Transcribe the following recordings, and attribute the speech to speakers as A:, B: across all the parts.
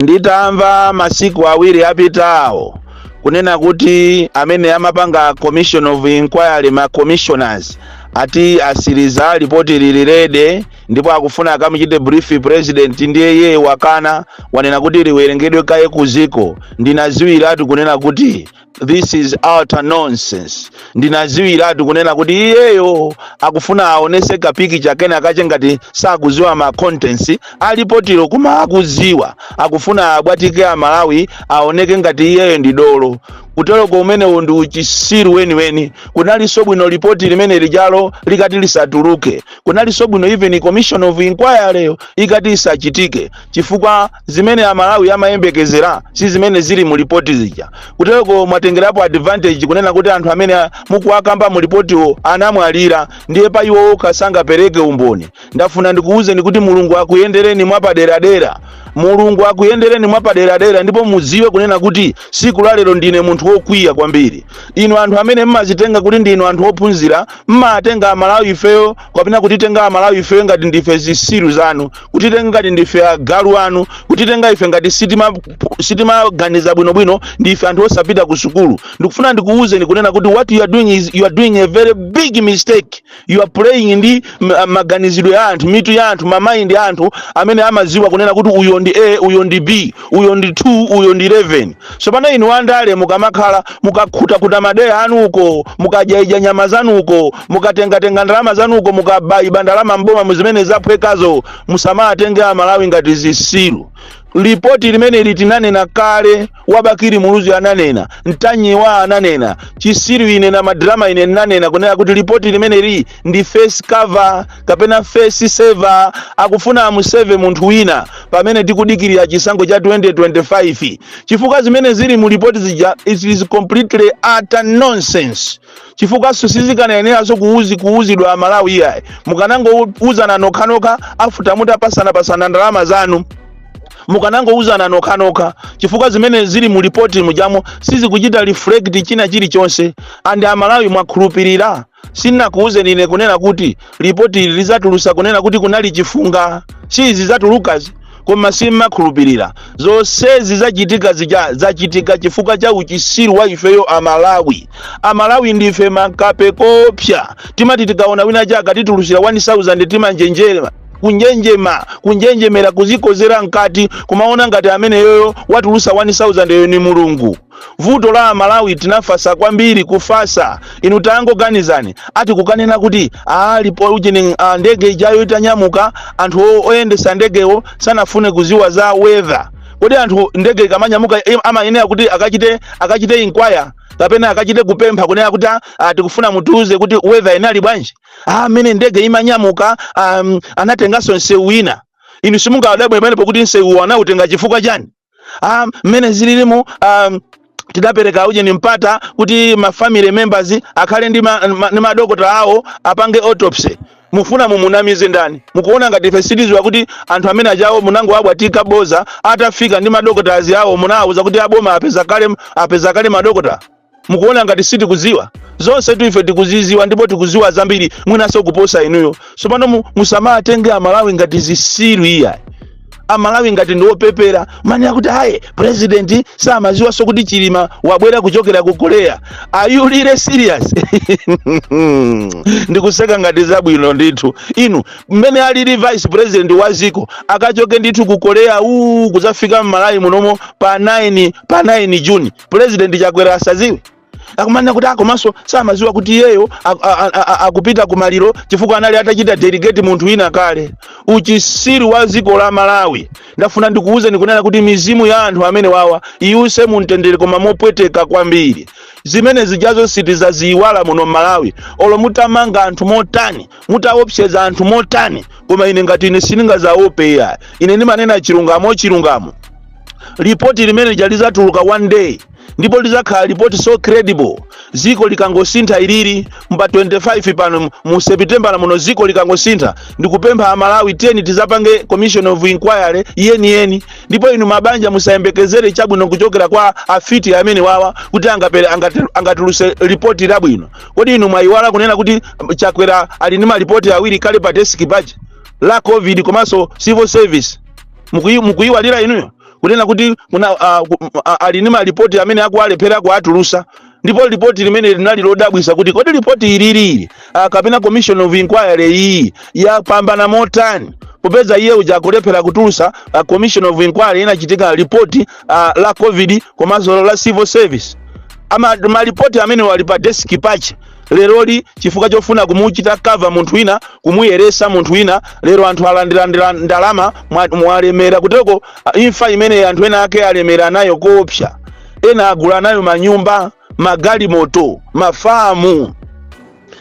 A: Nditamva masiku awiri apitawo kunena kuti amene amapanga commission of inquiry ma commissioners ati asiriza lipoti lili ready ndipo akufuna akamuchite brief president ndiye iye wakana wanena kuti liwerengedwe kaye kuziko ndinaziwiiratu kunena kuti this is utter nonsense ndinaziwiratu kunena kuti iyeyo akufuna aonese kapikicha kenakake ngati sakuziwa ma contents alipotilo koma akuziwa akufuna abwatike amalawi aoneke ngati iyeyo ndi dolo kuteroko umenewo ndi uchisiru weniweni kunalinso bwino lipoti limene lija lo likati lisatuluke kunalinso bwino even commission of inquiry yo ikati isachitike chifukwa zimene amalawi amayembekezera si zimene zili mu lipoti zija kuteroko mwatengerapo advantage kunena kuti anthu amene a- mukuwakamba mu lipotiwo anamwalira ndiye pa iwo okha sangapereke umboni ndafuna ndikuwuzeni kuti mulungu akuyendereni mwapaderadera mulungu akuyendereni mwapaderadera ndipo mudziwe kunena kuti siku la lero ndine munthu wokwiya kwambiri inu anthu amene mmazitenga kuti ndinu anthu ophunzira mmatenga amalawi ifeyo kapena kutitenga amalawi ife ngati ndife zisiru zanu kutitenga ngati ndife agalu anu kutitenga ife ngati sitima sitimaganiza bwinobwino ndife anthu osapita ku sukulu ndikufuna ndikuwuzeni kunena kuti what you are doing is you are doing a very big mistake you are playing ndi ma- maganizidwe a anthu mitu ya anthu ma mind a anthu amene amaziwa kunena kuti uyo ndi a uyo ndi b uyo ndi 2 uyo ndi 11 Tsopano inu andale mukamakhala mukakhutakuta madera anu uko mukadyaidya nyama zanu uko mukatengatenga ndalama zanu uko mukabaiba ndalama mboma mmuzimene zaphwekazo musamatenge amalawi ngati zisiru lipoti limeneli tinanena kale wa Bakili Muluzi ananena Ntanyiwa ananena chisiru ine na madrama ine ndinanena kunena kuti lipoti limeneli ndi face cover kapena face saver akufuna amu save munthu wina pamene tikudikirira chisankho cha 2025 chifukwa zimene zili mu lipoti zija it is completely utter nonsense chifukwa sizikanayeneranso kuuzi kuuzidwa amalawi iyayi mukanangouzana nokhanokha after mutapasanapasana ndalama zanu mukanangouzana nokhanokha chifukwa zimene zili mu lipoti mujamo sizikuchita reflect china chilichonse and amalawi mwakhulupirira sinakuuzeni ine kunena kuti lipoti ili lizatulusa kunena kuti kunali chifunga siizi zatulukazi koma simmakhulupirira zonsezi zachitika zija zachitika chifukwa cha uchisiru wa ifeyo amalawi amalawi ndife makape kopsa timati tikaona winachake atitulusira 1000 timanjenjema kunjenjema kunjenjemera kuzikozera mkati kumaona ngati ameneyoyo watulusa 1000 yo ni mulungu vuto la amalawi tinafasa kwambiri kufasa inu tangoganizani ati akukanena kuti ali poisoning ah, ndege ijayo itanyamuka anthu o- oyendesa ndegewo sanafune kuziwa za weather kodi anthu ndege ikamanyamuka im- amayenera kuti akachite akachite inquiry kapena akachite kupempha kunena kuti ah, ah, tikufuna mutiuze kuti weather inali bwanji ah, amene ndege imanyamuka um, anatenganso nsewu ina inu simungawadabwe pamene pokuti nsewu anautenga chifukwa chani ah, mmene zililimu ah, tidapereka ujeni mpata kuti ma family members akhale ndi ma- ma- ndi madokotala awo apange autopsy mufuna mumunamize ndani mukuona ngati ife sitiziwa kuti anthu amene achawo munangowabwatika boza atafika ndi madokotala awo munawauza kuti aboma apeza kale apeza kale madokotala mukuona ngati sitikudziwa zonsetu ife tikuziziwa ndipo tikuziwa zambiri mwinanso kuposa inuyo tsopano mu- musamatenge amalawi ngati zisiru iyayi amalawi ngati ndiwopepera amanena kuti ayi president samaziwanso kuti chilima wabwera kuchokera ku korea are you really serious ndikuseka ngati zabwino ndithu inu mmene alili vice president wa ziko akachoke ndithu ku korea uu kuzafika mmalawi munomo pa 9 pa 9 juni President Chakwera asaziwe akumanena kuti akomanso samaziwa kuti iyeyo akupita ku maliro chifukwa anali atachita delegate munthu wina kale. Uchisiru wa dziko la Malawi ndafuna ndikuuzeni kunena kuti mizimu ya anthu amenewawa iuse mumtendere koma mopweteka kwambiri. Zimene zijazo sitizaziyiwala muno mMalawi olo mutamanga anthu motani mutawopseza anthu motani koma ine ngati ine sindingazaope iyayi ine ndimanena chilungamo chilungamo lipoti limenelija lizatuluka one day ndipo lizakhala lipoti so credible ziko likangosintha ilili mu 25 pano mu- mu sepitembala muno ziko likangosintha ndikupempha amalawi tiyeni tizapange commission of inquiry yeniyeni ndipo inu mabanja musayembekezere chabwino kuchokera kwa afiti amenewawa kuti angapere angati- angatuluse lipoti labwino Kodi inu mwayiwala kunena kuti um, Chakwera ali ndi malipoti awiri kale pa desk pake la COVID komanso civil service. Mukuyi- Mukuyiwalira inuyo kunena kuti kuna, uh, ku- m- a- ali ndi malipoti amene akuwalephera kuatulusa ndipo lipoti limeneli ndi lodabwisa kuti kodi lipoti ilili uh, kapena commission of inquiry iyi yapambana motani popeza iye uja akulephera kutulusa uh, commission of inquiry inachitika lipoti uh, la covid komanso la civil service ama malipoti amenewa ali pa desk pake leroli chifukwa chofuna kumuchita cover munthu wina kumuyeresa munthu wina lero anthu alandilandira ndalama mwa- mwalemera kutereko ah, imfa imene anthu ena ake alemera nayo koopsa ena agula nayo manyumba magalimoto mafamu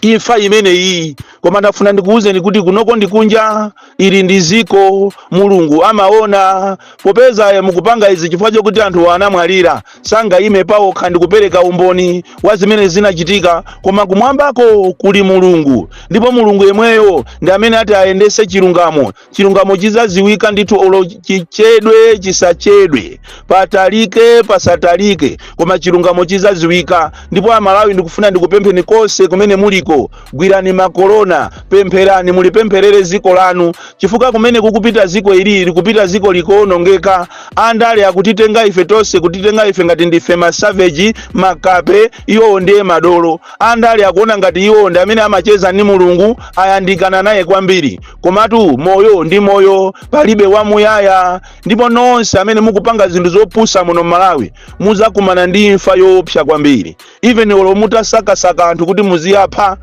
A: imfa imeneyi koma ndafuna ndikuwuzeni kuti kunoko ndi kunja ili ndi ziko mulungu amaona popeza eh, mukupanga izi chifukwa chokuti anthu anamwalira sangayime pawokha ndikupereka umboni wa zimene zinachitika koma kumwambaku kuli mulungu ndipo mulungu yemweyo ndi amene ati ayendese chilungamo chilungamo chizaziwika ndithu olo chichedwe chisachedwe patalike pasatalike koma chilungamo chizaziwika ndipo amalawi ndikufuna ndikupempheni konse kumene muliko gwirani makolona pempherani mulipempherere ziko lanu chifukwa kumene kukupita ziko ili likupita ziko likuonongeka andale akutitenga ife tonse kutitenga ife ngati ndife masaveji makape iwowo ndiye madolo andale akuona ngati iwowo ndi amene amacheza ndi mulungu ayandikana naye kwambiri komatu moyo ndi moyo palibe wamuyaya ndipo nonse amene mukupanga zinthu zopusa muno m'malawi muzakumana ndi imfa yoopsa kwambiri even olo mutasakasaka anthu kuti muziwapha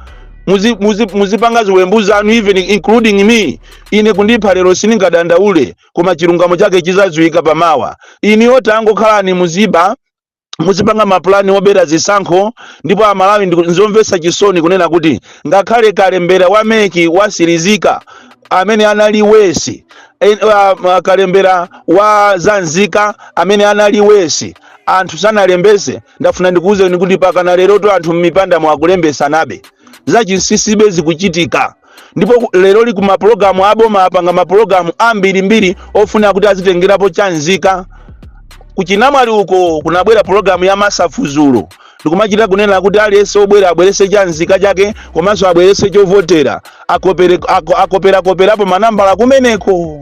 A: muzi- muzi- muzipanga ziwembu zanu even including me ine kundipha lero siningadandaule koma chilungamo chake chizadziwika pamawa inuyo tangokhalani muziba muzipanga mapulani obera zisankho ndipo amalawi ndiku- nzomvetsa chisoni kunena kuti ngakhale kalembera wa MEC wasirizika amene anali worse en- wa- ma- kalembera wa zanzika amene anali worse anthu sanalembese ndafuna ndikuwuzeni kuti pakana lerotu anthu m'mipandamo akulembesanabe zachinsinsi be zikuchitika ndipo ku- leroli ku mapulogalamu aboma apanga mapulogalamu ambirimbiri ofuna kuti azitengerapo chanzika kuchinamwali uko kunabwera pulogalamu ya masafu dzulo ndikumachita kunena kuti aliyense obwera abwerese chanzika chake komanso abwerese chovotera akopere- ako- akoperakoperapo manambala kumeneko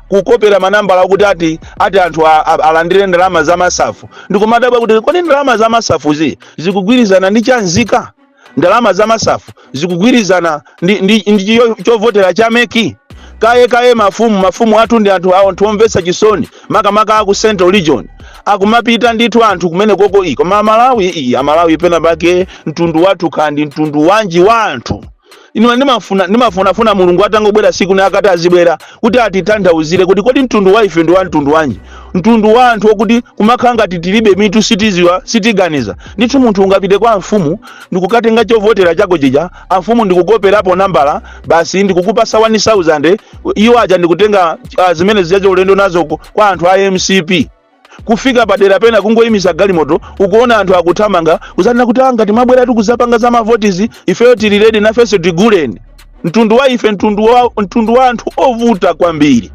A: kukopera manambala kuti ati ati anthu a- a- alandire ndalama za masafu ndikumadabwa kuti kodi ndalama za masafuzi zikugwirizana ndi chanzika ndalama za masafu zikugwirizana ndi, ndi, ndi chiyo- chovotera cha MEC kaye kaye mafumu mafumu athu ndi anthu awo anthu omvetsa chisoni makamaka aku central region akumapita ndithu anthu kumenekoko iyi koma amalawi iyi amalawi pena pake mtundu wathu kaya ndi mtundu wanji wa anthu Ine ndimafuna ndimafunafuna Mulungu atangobwera siku lina akati azibwera kuti atitanthauzire kuti kodi mtundu wa ife ndi wa mtundu wanji, mtundu wa anthu okuti kumakhala ngati tilibe mitu sitiziwa sitiganiza. Ndithu munthu ungapite kwa amfumu ndikukatenga chovotera chako chija amfumu ndikukoperapo nambala basi ndikukupasa 1000 iwo aja ndikutenga ah, zimene zijazo ulendo nazo ku- kwa anthu a mcp kufika padera pena kungoyimisa galimoto ukuona anthu akuthamanga kuzanena kuti angati mwabwera tikuzapanga za mavotizo ifeyo tili redi nafenso tiguleni mtundu wa ife mtundu wa, mtundu wa anthu ovuta kwambiri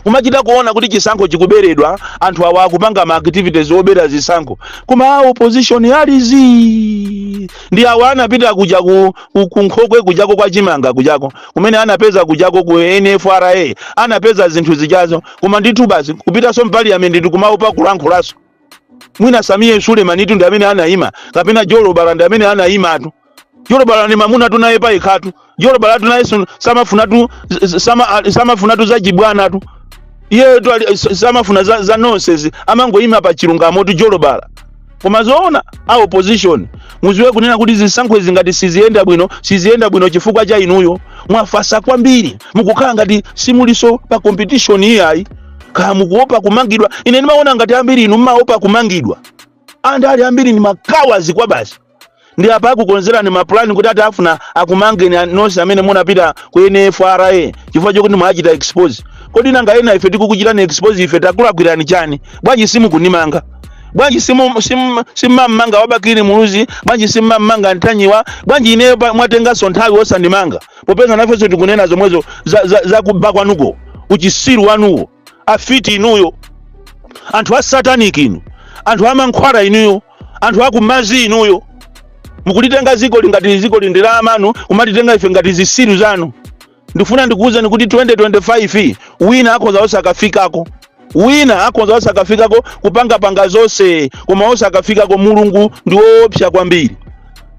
A: kumachita kuona kuti chisankho chikuberedwa anthu awa akupanga ma activities obera zisankho koma a opposition ali zii ndi awa anapita kuja ku, ku, ku nkhokwe kujako kwa chimanga kujako kumene anapeza kujako ku nfra anapeza zinthu zijazo koma ndithu basi kupitaso mu paliyamenti ndikumaopa kulankhulaso mwina samiye sulemanitu ndi amene anayima kapena jolobala ndi amene anayimatu jolobala ni mamunatu naye payekhatu jolobalatu naye sun- samafunatu z- z- sama- a- samafunatu zachibwanatu iyeyotu ali- s- samafuna za, za nonsense amangoyima pa chilungamotu jolobala koma zoona a opposition muziwe kunena kuti zisankho izi ngati siziyenda bwino siziyenda bwino chifukwa cha inuyo mwafasa kwambiri mukukhala ngati simuliso pa competition iyayi kaya mukuopa kumangidwa ine ndimaona ngati ambiri inu mmaopa kumangidwa anthu ali ambiri ndi makawadi kwabasi ndi apa akukonzerani mapulani kuti ati afuna akumangeni a- nonse amene munapita ku nfra chifukwa chokuti mwachita expose kodi nanga ena ife tikukuchitani expose ife takulakwirani chani bwanji simukunimanga bwanji simu- sim- simmamanga wa bakili muluzi bwanji simmamanga mtanyiwa bwanji ineyo pa- mwatenganso nthawi osandimanga popeza nafenso tikunena zomwezo za, za, za kuba kwanuko uchisiru wanuwo afiti inuyo anthu a satanic inu anthu amankhwala inuyo anthu akumazi inuyo mukulitenga zikoli ngati zikoli ndi la amanu kumatitenga ife ngati zisiru zanu ndikufuna ndikuwuzeni kuti 2025 wina akhoza osakafikako wina akhoza osakafikako kupangapanga zonse koma osakafikako mulungu ndi woopsa kwambiri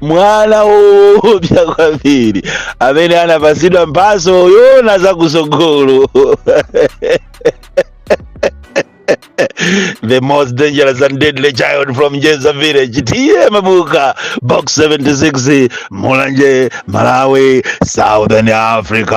A: mwana woopsa kwambiri amene anapatsidwa mphatso yoona zakusogolo the most dangerous and deadly child from jeza village tiye mabuka box 76 mulanje malawi southern africa